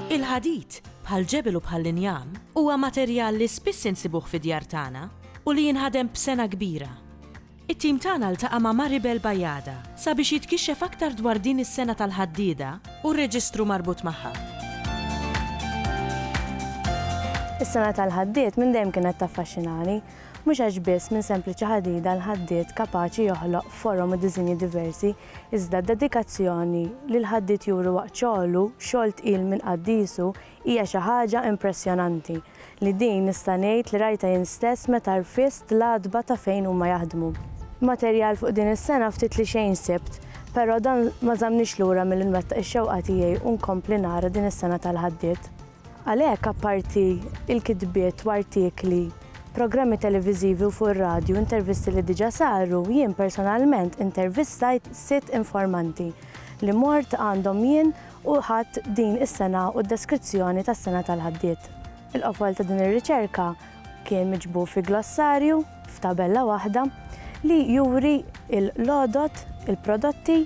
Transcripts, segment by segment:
Il-ħadid, bħall-ġebel u bħall-injam, huwa materjal li spiss insibuh fid-djar tagħna u li jinħadem b'sengħa kbira. It-tim tagħna ltaqa' ma' Maribel Bajada sabiex jitkixxef aktar dwar din is-sena tal-ħaddieda u r-reġistru marbut magħha. Is-sena tal-ħaddied minn dejjem kienet taffaxxinani, mhux għax biss minn sempliċi ħadida l-ħaddied kapaċi joħloq forom u diżinji diversi, iżda d-dedikazzjoni li l-ħaddied juri waqt xogħlu, xogħol tqil minn qaddiesu, Hija xi ħaġa impressjonanti li din nista' ngħid li rajtha jien stess meta rfist l-għatba ta' fejn huma jaħdmu. Materjal fuq din is-sena ftit li xejn sibt, però dan ma żammnix lura milli nwettaq ix-xewqa tiegħi u nkompli nara din is-sena tal-ħaddiet. Għalhekk apparti l-kitbiet u artikli, programmi televiżivi u fuq ir-radju, intervisti li diġà saru, jien personalment intervistajt sitt informanti li mort għandhom jien u ħadt din is-sena u d-deskrizzjoni tas-sena tal għaddiet. Il-qofol ta' din ir-riċerka kien miġbur fi glossarju f'tabella waħda li juri l-għodod, il-prodotti,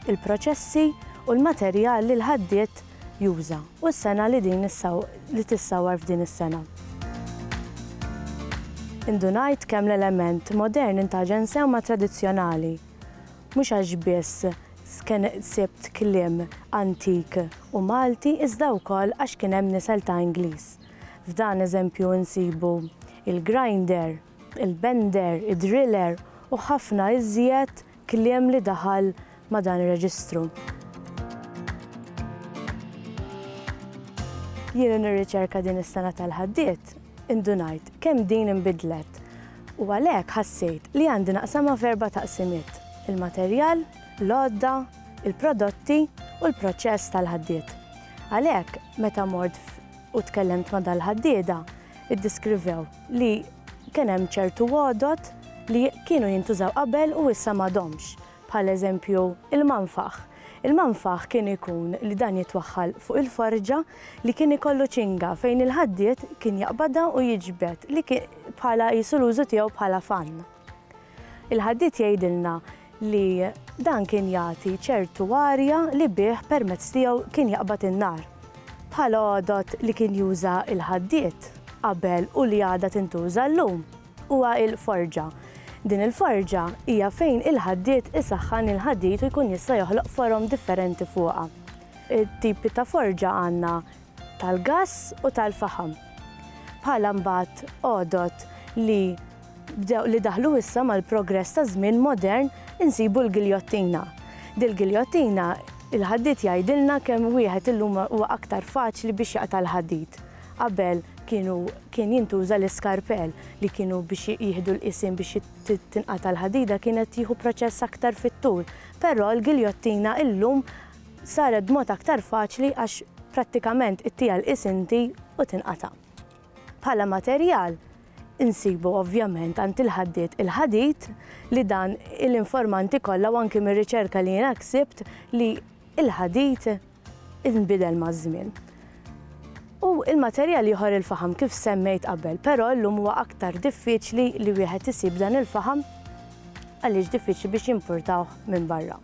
il-proċessi u l-materjal li l-ħaddiet juża u s-sena li din li tissawwar f'din is-sena. Indunajt kemm l-element modern intaġen sewma tradizzjonali. Mhux għax biss sibt kliem antik u Malti iżda wkoll għax kien hemm nisel ta' Ingliż. F'dan eżempju insibu il-grinder, il-bender, id-driller u ħafna iżjed kliem li daħal ma' dan ir-reġistru. Jien nirriċerka din is-sengħa tal-ħaddied Indunajt kemm din inbidlet u għalhekk ħassejt li għandi naqsamha f'erba' taqsimiet, il-materjal, l-għodda, il-prodotti u l-proċess tal-ħaddied. Għalhekk meta mort u tkellimt ma' dal-ħaddieda, iddiskrivew li kien hemm ċertu għodod li kienu jintużaw qabel u issa m'għadhomx, bħal eżempju il-manfaħ. Il-manfah kien ikun li dan jitwaħħal fuq il-forġa li kien ikollu ċinga fejn il-ħaddied kien jaqbadha u jiġbed li kien bħala qisu l-użu tiegħu bħala fann. Il-ħaddied jgħidilna li dan kien jagħti ċertu arja li bih permezz tiegħu kien jaqbad in-nar. Bħala għodod li kien juża l-ħaddied qabel u li għadha tintuża llum. huwa l-forġa. Din il-forġa hija fejn il-ħaddied isaħħan il-ħadid u jkun jista' joħloq forom differenti fuqha. It-tipi ta' forġa għandna tal-gass u tal-faħam. Bħala mbagħad għodod li bdew li daħlu issa mal-progress taż-żmien modern insibu l-giljottina. Dil-giljottina il-ħaddied jgħidilna kemm wieħed illum huwa aktar faċli biex jaqta' l-ħadid. Qabel kienu kien jintuża l-iskarpell li kienu biex jieħdu l-qisien biex tinqata' l-ħadida kienet tieħu proċess aktar fit-tul, però l-giljottina illum saret b'mod aktar faċli għax prattikament ittiha l-qies inti u tinqata'. Bħala materjal insibu ovvjament għand il-ħaddied il-ħadid li dan il-informanti kollha u anki mir-riċerka li jiena ksibt li l-ħadid inbidel maż-żmien. U l-materjal ieħor il-faħam kif semmejt qabel, però llum huwa aktar diffiċli li wieħed isib dan il-faħam għaliex diffiċli biex jimpurtawh minn barra.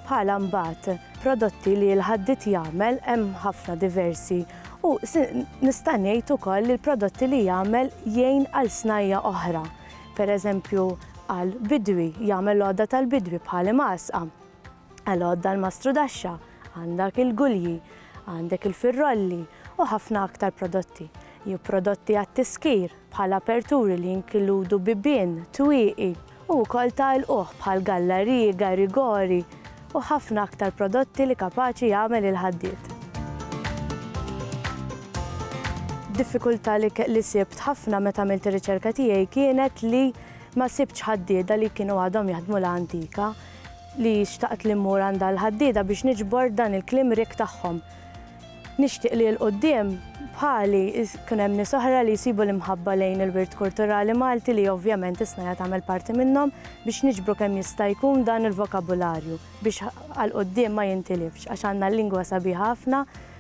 Bħala mbagħad prodotti li l-ħaddit jagħmel hemm ħafna diversi u nista' ngħid ukoll li l-prodotti li jagħmel jgħin għal snajja oħra. Pereżempju għal bidwi, jagħmel l-għodda tal-bidwi bħal imgħasqa. Għal-għodda l-mastrudaxxa għandak il-gulji, għandek il-firrolli u ħafna aktar prodotti. Jew prodotti għat-tiskir bħal aperturi li jinkiludu bibien, twieqi u wkoll ta' ilquh bħal gallariji, garigori u ħafna aktar prodotti li kapaċi jagħmel il-ħaddied. Diffikultà li ke- li sibt ħafna meta għamilt ir-riċerka tiegħi kienet li ma sibtx ħaddieda li kienu għadhom jaħdmu l-antika. li xtaqt li mmur għandha l-ħaddieda biex niġbor dan il-kliem rikk tagħhom. Nixtieq li 'l quddiem, bħali, jkun hemm nies oħra li jsibu l-imħabba lejn il-wirt kulturali Malti li ovvjament is-SNAJA tagħmel parti minnhom biex niġbru kemm jista' jkun dan il-vokabularju biex għal quddiem ma jintilifx għax għandna lingwa sabiħa ħafna